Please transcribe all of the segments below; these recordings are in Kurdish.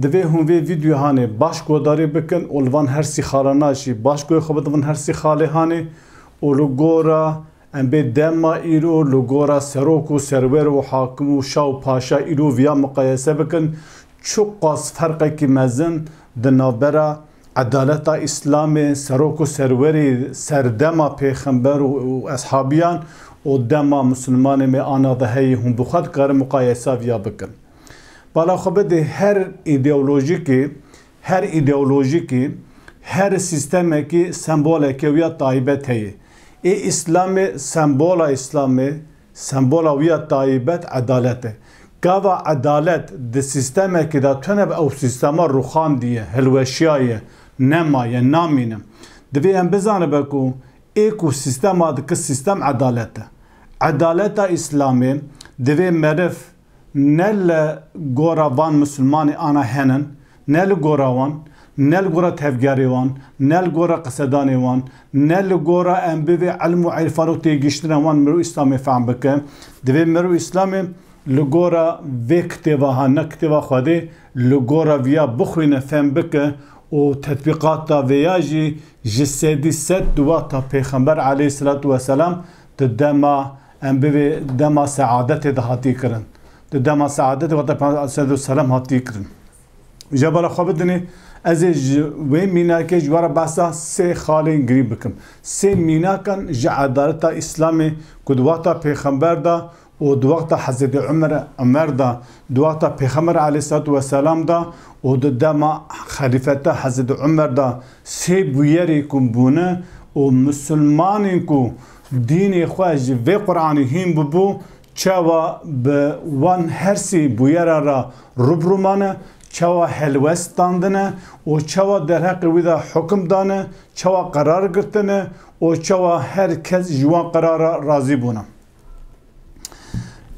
Divê hûn vê vîdyoyanê baş guhdarî bikin û li van her sî xalana jî baş guhê xwe bidivin her sî xalêhanê û li gora em bê dema îro li gora serok û serwer û hakim û şa û paşa îro viya miqayese bikin çi qas ferqekî mezin di navbera edaleta îslamê serok û serwerê serdema pêxember û eshabiyan û dema misilmanê me ana de heye hûn bi xwe dikarin miqayesa viya bikin. Bala xwe bidê her îdeolojîkê, her îdeolojîkê, her sîstemekî semboleke wî ya taybet heye. Ê Îslamê sembola Îslamê, sembola wî ya taybet edalet e. Gava edalet di sîstemekî de tune bi ew sîstema rûxandiye, hilweşiyaye, nemaye, namîne. Divê em bizanibe ku ê ku sîstema dike sîstem edalet e. Edaleta Îslamê divê meriv ne li gora van misilmanê ana henin, ne li gora wan, ne li gora tevgerê wan, ne li gora qisedanê wan, ne li gora em bivê ilm û îrfan û têgihiştina wan mirov îslamê fehm bike. Divê mirov îslamê li gora vê kitêva ha ne kitêva Xwedê li gora viya bixwîne, fehm bike û tetbîqata vê ya jî ji sedî sed di wexta pêxember aleyhî selatû weselam di dema Em bi vê dema seadetê de hatiye kirin. Di dema seadetê wate Peygamber aleyhisselatu vesselam hatiye kirin. Ja bala xwe bidinê ez ê ji wê mînakê ji we re behsa sê xalên girîng bikim. Sê mînakan ji edaleta Îslamê ku di wexta Pêxember de û di wexta Hezretê Umer Umer de, di wexta Pêxember aleyhisselatu vesselam de û di dema xelîfeta Hezretê Umer de sê bûyerê ku bûne û misilmanên ku Dînê xwe ji vê Quranê hîn bûbû, çawa bi wan hersî bûyera re rûbirû mane, çawa helwest standine û çawa derheqê wî de hukm dane, çawa qerar girtine û çawa her kes ji wan qerar re razî bûne.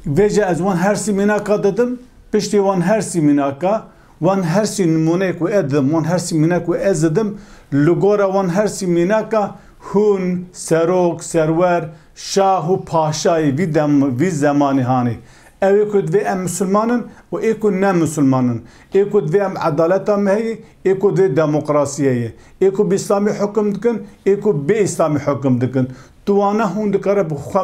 Vê jî ez wan hersî mînaka didim, piştî wan hersî mînaka, Wan her sî nimûneyê ku ez didim, wan her sî mîna ku ez didim, li gora wan her sî mînaka hûn, serok, serwer, şah û paşayê vî dem, vî zemanê hanê. Ew ê ku divê em misilman in û ê ku ne misilman in, ê ku divê em edaleta me heyê, ê ku divê demokrasî heyê, ê ku bi îslamî hukim dikin, ê ku bê îslamî hukim dikin. Tu wana hûn dikare bi xwe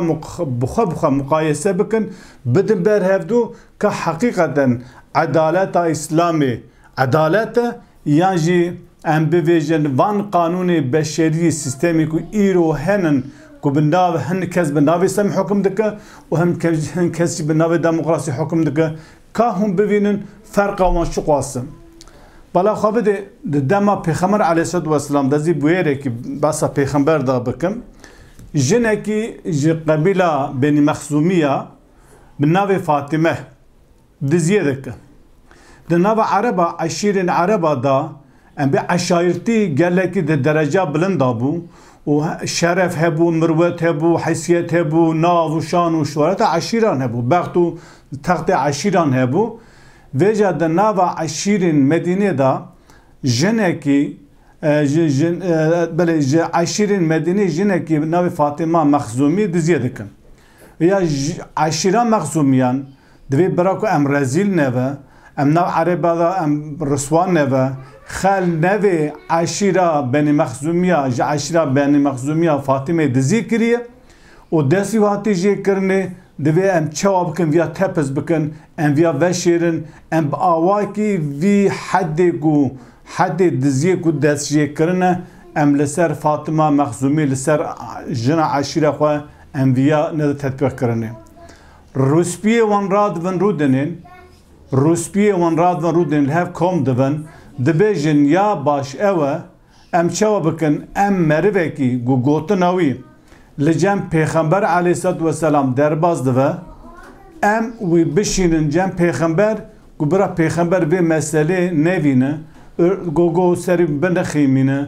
bi xwe bi xwe muqayese bikin, bidin ber hevdu, ka heqîqeten edaleta Îslamê edalet e yan jî em bivêjin van qanûnê beşeriyê sîstemê ku îro henin ku bi nav hin kes bi navê sem hukum dike û hin kes jî bi navê demokrasî hukum dike ka hûn bivînin ferqa wan çiqas e. Bala xwe bidê di dema Pêxember aleyhîsselatûwesselam de zî bûyêrekî behsa pêxember de bikim jinekî ji qebîla Benî Mexzûmî ya bi navê Fatime diziyê dikin. Di nava ereba eşîrên ereba de em bê eşairtî gelekî di dereca bilind de bû û şeref hebû, mirwet hebû, heysiyet hebû, nav û şan û şoreta eşîran hebû, bext û textê eşîran hebû. Vêca di nava eşîrên Medînê de jinekî belê ji eşîrên Medînê jinekî bi navê Fatime Mexzûmî diziyê dikin. Ya eşîra Mexzûmiyan divê bira ku em rezîl nebe, em nav Ereba de em riswa nebe, xel nevê eşîra Benî Mexzûmiya ji eşîra Benî Mexzûmiya Fatîmê dizî kiriye û destî û hatî jê kirinê, divê em çawa bikin viya tepis bikin, em viya veşêrin, em bi awakî vî hedê ku hedê diziyê ku destjêkirine em li ser Fatima Mexzûmî li ser jina eşîra xwe Em viya ne di tetbîq kirinê. Rûspiyê wan radibin rû dinên, rûspiyê wan radibin rû dinên li hev kom dibin, dibêjin ya baş ew e, em çawa bikin, em merivekî ku gotina wî li cem pêxember aleyhîslat weselam derbas dibe, em wî bişînin cem pêxember ku bira pêxember vê meselê nevîne, gogo serî binixîmîne,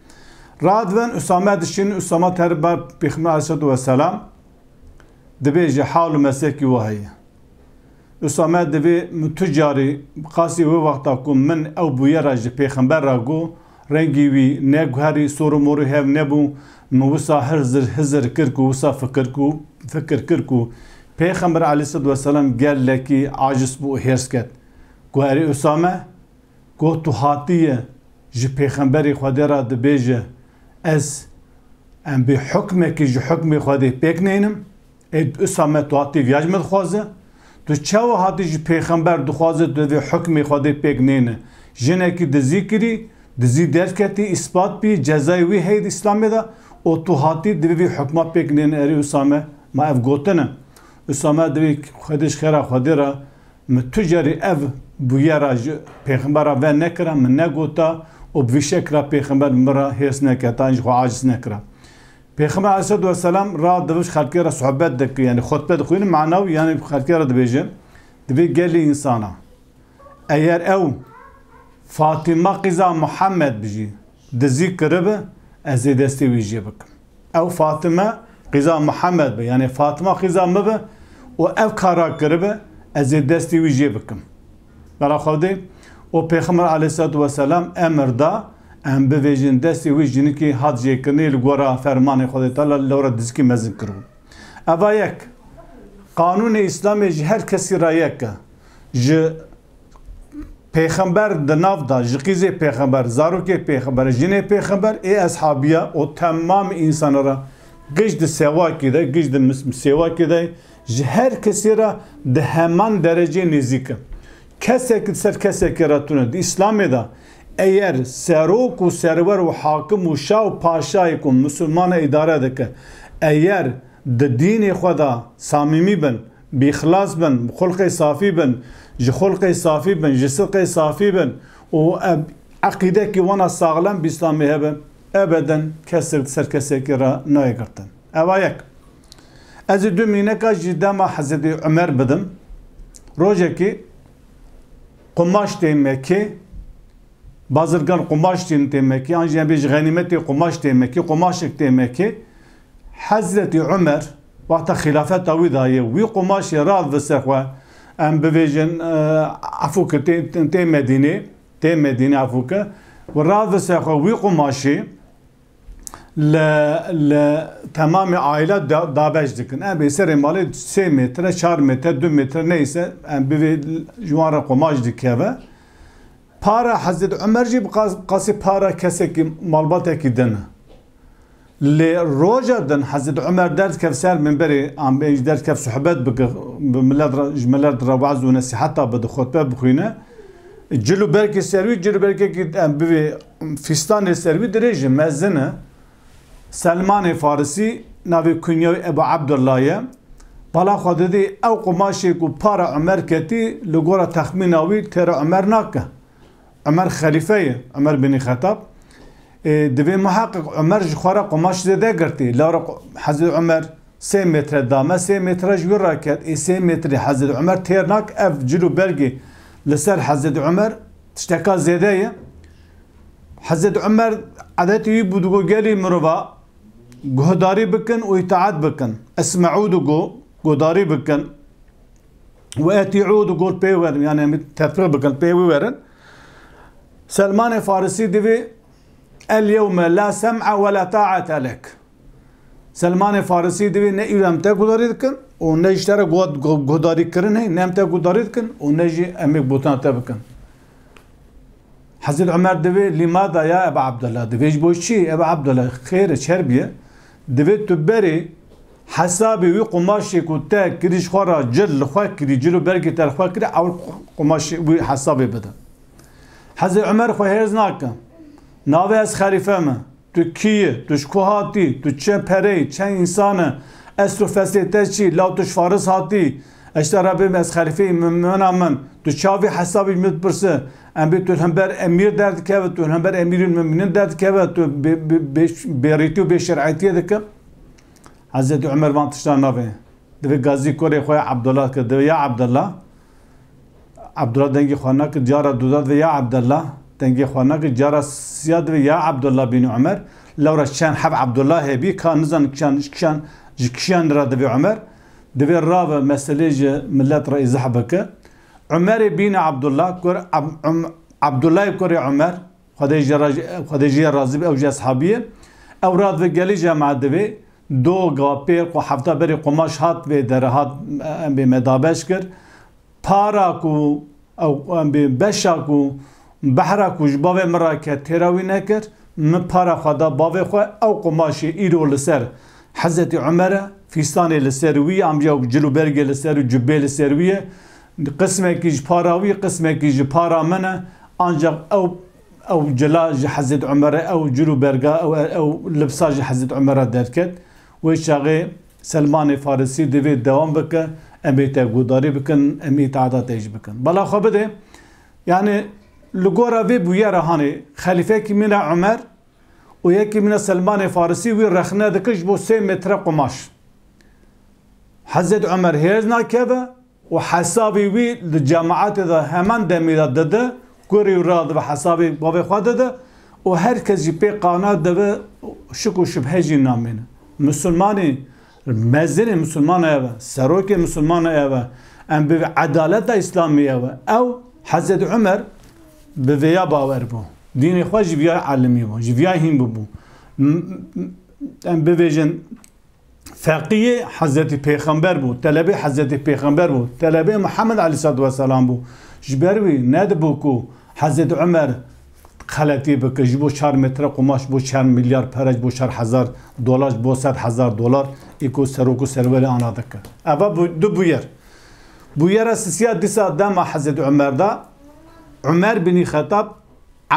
Radven Usame dişin Usama terba Pêxme Aleyhissalatu Vesselam dibêje hal û meslekî we heye. Usame divê min tu carî qasî wê wexta ku min ew bûye ra ji pêxember ra got rengî wî neguherî sor û morî hev nebû min wisa hizir hizir kir ku wisa fikir ku fikir kir ku pêxember Aleyhissalatu Vesselam gelekî aciz bû û hêrs ket ku erê Usame Goh tu hatiye ji Pêxemberê Xwedê re dibêje, Ez em bê hukmekî ji hukmê Xwedê pêk neynim, ê di Usame tu hatî viya ji me dixwaze? Tu çawa hatî ji Pêxember dixwaze tu vê hukmê Xwedê pêk neyne? Jinekî dizî kirî, dizî derketî, îspat bî, cezayê wî heye di Îslamê de û tu hatî divê vî hukma pêk neyne erê Usame ma ev gotin e. Usame divê Xwedê ji xêra Xwedê re Min tu carî ev bûyera ji pêxembera ve nekira, min negota û bi vî şekila pêxember min re hêrs neke ta ji xwe aciz nekira. Pêxember aleyhisselatu weselam ra dibij xelkê re sohbet dike yanî xutbe dixwîne mana wî yanî xelkê re dibêje di vê gelê însana eger ew Fatîma qîza Muhammed bijî dizî kiribi ez ê destê wî jê bikim. Ew Fatime qîza Mihemed be, yanê Fatima qîza min be û ev kar ra kiribe, ez ê destê wî jê bikim. Bela Xwedê û Pêxember aleyhîsselatu weselam emir da, em bivêjin destê wî jinikê hat jêkirinê li gora fermanê Xwedê Teala lewra dizikê mezin kiribû. Eva yek, qanûnê Îslamê ji her kesî ra yek e. Ji. Pêxember di nav da ji qîzê pêxember, zarokê pêxember, jinê pêxember ê eshabiya û temamê însanan re giş di sewakê de, giş di sêwakê de ji her kesê re di heman derecê nêzîk e. Kesekî di ser kesekê re tune. Di îslamê de eyer serok û serwer û hakim û şa û paşayê ku misilmana îdare dike eyer di dînê xwe de samîmî bin, Bi xilas bin, bi xulqê safî bin, ji xulqê safî bin, ji sidqê safî bin û eqîdekî wana saxlem bi Îslamê hebe, ebeden kes sirk ser kesekî re nayê girtin. Eva yek. Ez ê du mîneka ji dema Hezretî Umer bidim. Rojekî qumaş tê Mekê, bazirgan qumaş tînin tê Mekê, an jî em bê ji xenîmetê qumaş tê Mekê, qumaşek tê Mekê, Hezretî Umer, wexta xîlafeta wî da yê wî qumaşê rast bi ser xwe, em bivêjin efû ki tê Medînê, tê Medînê efû ki, wî rast bi ser xwe wî qumaşê li li temamê aîla dabeş dikin. Em ê serê malê sê mêtre, çar mêtre, du mêtre neyse em bivê ji wan re qumaş dikeve. Para Hezret Umer jî bi qasî para kesekî malbatekî din e. Lê roja din Hezret Umer derdikev ser mîmberê ambê jî derdikev suhbet bike bi milet re ji milet re waz û nesîheta bide xutbe bixwîne. Cil û berkê ser wî cil û berkekî em bivê fîstanê ser wî dirêj e, mezin e. Selmanê Farisî navê kunya wî Ebu Ebdullah ye. Bala xwe didî ew qumaşê ku para Umer ketî li gora texmîna wî têra Umer nake. Umer xelîfe ye, Umer bin Xetab. Ê divê muheqîq Umer ji xwe re qumaş zêde girtî. Lara Hezret Umer sê mêtre dame, sê mêtre ji wî re ket. Ê sê mêtrê Hezret Umer têr nake. Ev cil û belgê li ser Hezret Umer Tişteka zêde ye. Hezret Umer edetê wî bû digo gelê mirova guhdarî bikin û îtaet bikin. Esmeû digo guhdarî bikin. We etîû digo pê werin yani em tefrîq bikin pê wî werin. Selmanê Farisî divê Elyewme la sem'a we la ta'ate lek. Selmanê Farisî divê ne îro em te guhdarî dikin û ne ji te re guhdarîkirinê, ne em te guhdarî dikin û ne jî em ê gotina te bikin. Hezreti Umer divê lîmada ya Eba Abdullah divê ji bo çi? Eba Abdullah xêr e çer bîye. Divê tu berê hesabê wî qumaşê ku te kirî ji xwe re cil li xwe kirî, cil û bergê te li xwe kirî ew qumaşê wî hesabê bide. Hezê Umer xwe hêrs nake. Navê ez xelîfe me. Tu kî yî? Tu ji ku hatî? Tu çi pere yî? Çend însan e? Esl û feslê te çi? Law tu ji Faris hatî yî? Eşta re bê ez xelîfe yî mena min. Tu çavê hesabî ji min dipirse. Em bê tu li hember emîr derdikeve, tu li hember emîrên mumînin derdikeve, tu bêrîtî û bêşerîetiyê dike. Hezreti Umer van tiştan navê. Divê gazî kurê xwe ya Abdullah dike. Divê ya Abdullah. Abdullah dengê xwe nakir cara duda divê ya Abdullah, dengê xwe nakir cara siya divê ya Abdullah bin Umer. Lewra çend hev Abdullah hêbî ka nizanin kişan kişan ji kişan ra divê Umer. Divê rabe meselê ji milet ra îzah bike. Umerê bîne Abdullah kur Abdullahê kurê Umer. Xwedê ji ra Xwedê ji ya razî be ew ji eshabî ye. Ew ra di gelî jemaet di vê do ga pêr xwe hefta berî qumaş hat vê dere hat em bê me dabeş kir. Para ku ew em bê beşa ku behra ku ji bavê min ra ket têra wî nekir. Min para xwe da bavê xwe ew qumaşê îro li ser Hezetî Umere, fîstanê li ser wî ye, amca cil û bergê li ser û cubê li ser wî ye. Qismekî ji para wî, qismekî ji para min e, ancax ew ew cila ji Hezret Umer e, ew cil û berga ew e, ew libsa ji Hezret Umer re derket. Wê çaxê Selmanê Farisî divê dewam bike, em ê te guhdarî bikin, em îtaata te jî bikin. Bala xwe bide, yanî li gora vê bûyera hanê xelîfekî min e Umer û yekî min e Selmanê Farisî wî rexne dike ji bo sê metre qumaş. Hezret Umer hêz nakeve. û hesabî wî li cemaetê de heman demî de dide, kurî û ra dibe hesabî bavê xwe dide û her kes jî pê qane dibe û şik û şibhe jî namîne. Misilmanî mezinê misilman ev e, serokê misilman ev e, em bi edaleta îslamî ew e. Ew Hezretî Umer bi vêya bawer bû. Dînê xwe ji vîyayê elimî bû, ji vîyayê hîn bûbû. Em bivêjin Feqîyê Hezretî Pêxember bû, telebê Hezretî Pêxember bû, telebê Mihemed Aleyhisselatu Vesselam bû. Ji ber wî nedibû ku Hezretî Umer xeletî bike ji bo çar metre qumaş, ji bo çar milyar pere, ji bo çar hezar dolar, ji bo sed hezar dolar ê ku serok û serwerê ana dike. Ev e du bûyer. Bûyera sisiya dîsa dema Hezretî Umer de Umer bînî Xetab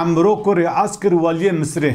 Emro kurê As kir weliyê Misirê.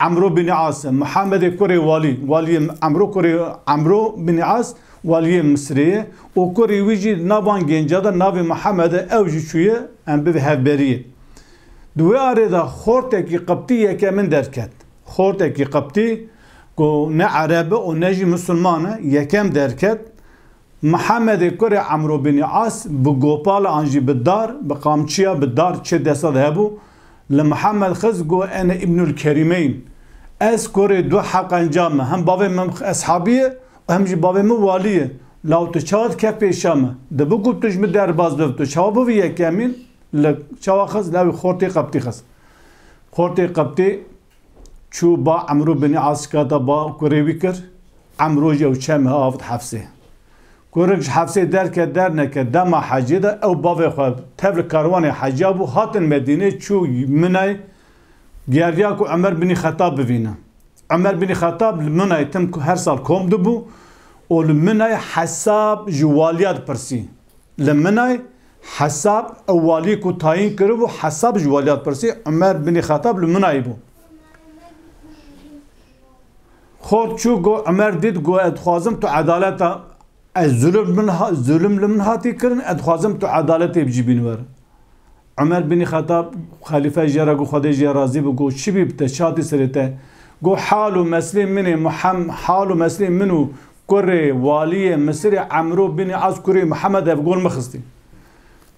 Emro Binî As, Muhemedê kurê Walî, Waliyê Emro kurê Emro Binî As, Waliyê Misirê ye û kurê wî jî na van gênca de navê Muhemed e, ew jî çûye em bivê hevberiyê. Di wê arê de xortekî qibtî yekemin derket. Xortekî qibtî ku ne ereb e û ne jî misilman e, yekem derket. Mihemedê kurê Emro Bînî As bi Gopal an jî bi dar, bi qamçiya bi dar çê desa de hebû, li Mihemed xist got em ê Îbnul Kerîme yn. Ez kurê du heqenca me, hem bavê min eshabî ye û hem jî bavê min walî ye. Law tu çawa dikevî pêşa me? Dibi ku tu ji min derbas bibî, tu çawa bûbî yekemîn? Li çawa xist? Lawê xortê qebtî xist. Xortê qebtî Çû ba Emro binê asika da ba kurê wî kir. Emro jî ew çem he avt hefsê. Kurik ji hefsê derket derneket dema hecê de ew bavê xwe tev li karwanê heca bû hatin Medînê çû Minay giyandiya ku Umer binî Xetab bivîne. Umer binî Xetab li Minay tim her sal kom dibû û li Minay hesab ji waliya dipirsî. Li Minay Hesab, ew waliyê ku tayîn kiribû Hesab ji waliya dipirsî, Umer binî Xetab li Minayê bû. Xo çû got Umer dît got ez dixwazim tu edaleta ez zulim min zulim li min hatî kirin ez dixwazim tu edaletê bijî bîn wer. Umer binî Xetab xelîfe jê re got Xwedê jê razî bi got çi bî bi te çi hatî serê te. Got hal û meslê min ê Muhem hal û meslê min û Kurê Waliyê Misirê Emro bin Az kurê Muhammed ev gol mixistî.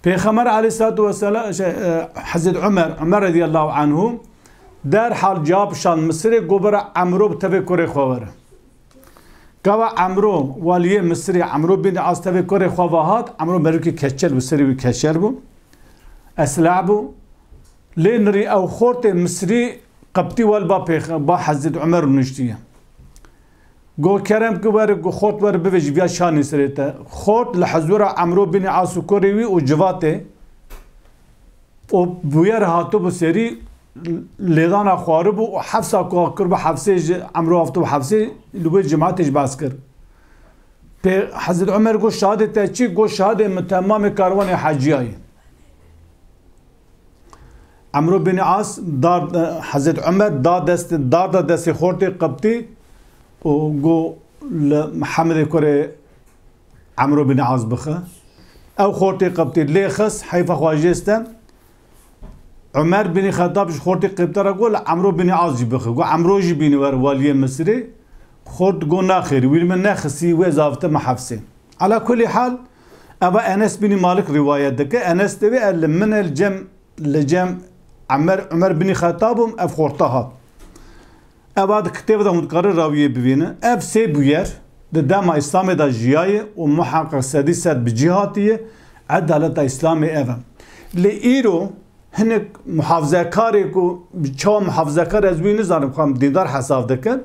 Pêxemer Aleyhissalatu vesselam şey, e, Hezret Ömer, Ömer radiyallahu anhu derhal cevap şan Misirê gobera Emro tevê kurê xwe were. Gava Emro Waliyê Misirê Emro bin Az tevê kurê xwe vahat, Emro merûkê keçel bi serê wî keçel bû. Esla bû. Lê nirî ew xortê Misirî qeptî wel ba pêx ba Hezret Ömer nuştiye. Go kerem ki weri ku xort weri bivê ji viya şanê sirê te. Xort li hezura Emro bînî Asûkorê wî û civatê û bûyer hatibû serî lêdana xwaribû û hefsa ku kiribû hefsê ji Emro aftibû hefsê li wê cimetê ji behs kir. Pê Hezret Omer got şahidê te çi? Got şahidê min te mamê karwanê heciyayê. Emro bin As dar Hazret Ömer da dest dar da destê xortê qıptı û go li Muhammedê kurê Emro bin As bixi. Ew xortê qıptı lê xis heyfa xwajêste Ömer bin Xetab ji xortê qêptara go li Emro bin As jî bixi. Go Emro jî bîni wer waliyê Misirê xort go naxêr wî li min nexisî wê zavite me hefsê. Ala kulî hal Eva Enes binî Malik rîwayet dike, Enes diwê e li min e li cem li cem Emer Umer binî Xetab im ev xorta hat. Eva di kitêve de hûn dikarin rawiyê bivînin. Ev sê bûyer di dema Îslamê de jiyaye û muheqiq sedî sed bi cî hatiye, edaleta Îslamê ev e. Lê îro hinek muhafizekarê ku bi çawa muhafizekar ez wî nizanim xwe em dîndar hesab dikin,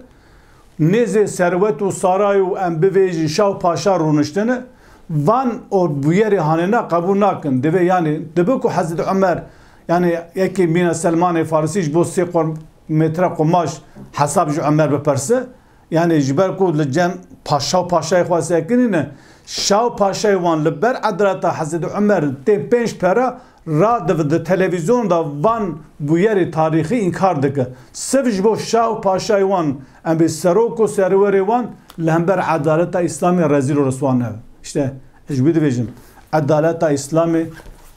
Nêzê Serwet û Sarayê û em bivêjin şa û paşa rûniştine, van ord bûyerê hanê na qebûl nakin. Divê yanî dibe ku Hezret Umer yanî yekê mîna Selmanê Farisî ji bo sê qurm mêtre qumaş hesab ji Umer biperse. Yanî ji ber ku li cem paşa û paşayê xwe sekinîne, şa û paşayê wan li ber edaleta Hezret Umer tê pênc pera Radiv di televîzyon de van bûyerê tarîxî înkar dike. Siv ji bo şa û paşayê wan em bê serok û serwerê wan li hember edaleta Îslamê rezîl û riswa nebe. Îşte ez ji wî dibêjim edaleta Îslamê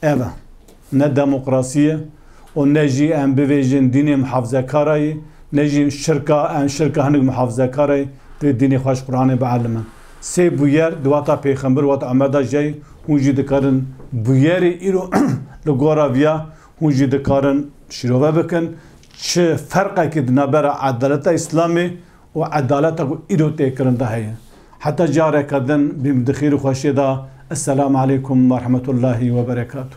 ev e. Ne demokrasî ye û ne jî em bivêjin dînê mihafzekara yê, ne jî şirka em şirka hinek mihafzekara yê, divê dînê xwe ji Quranê bielime. Sê bûyer di wata pêxember û wata Amed de jî heye, hûn jî dikarin bûyerê îro li gora vî ya hûn jî dikarin şîrove bikin. Çi ferqekî di navbera edaleta îslamê û edaleta ku îro tê kirin de heye? Heta careke din bîm di xêr û xweşiyê de. Esselam aleykum werhemetullahî weberekatû.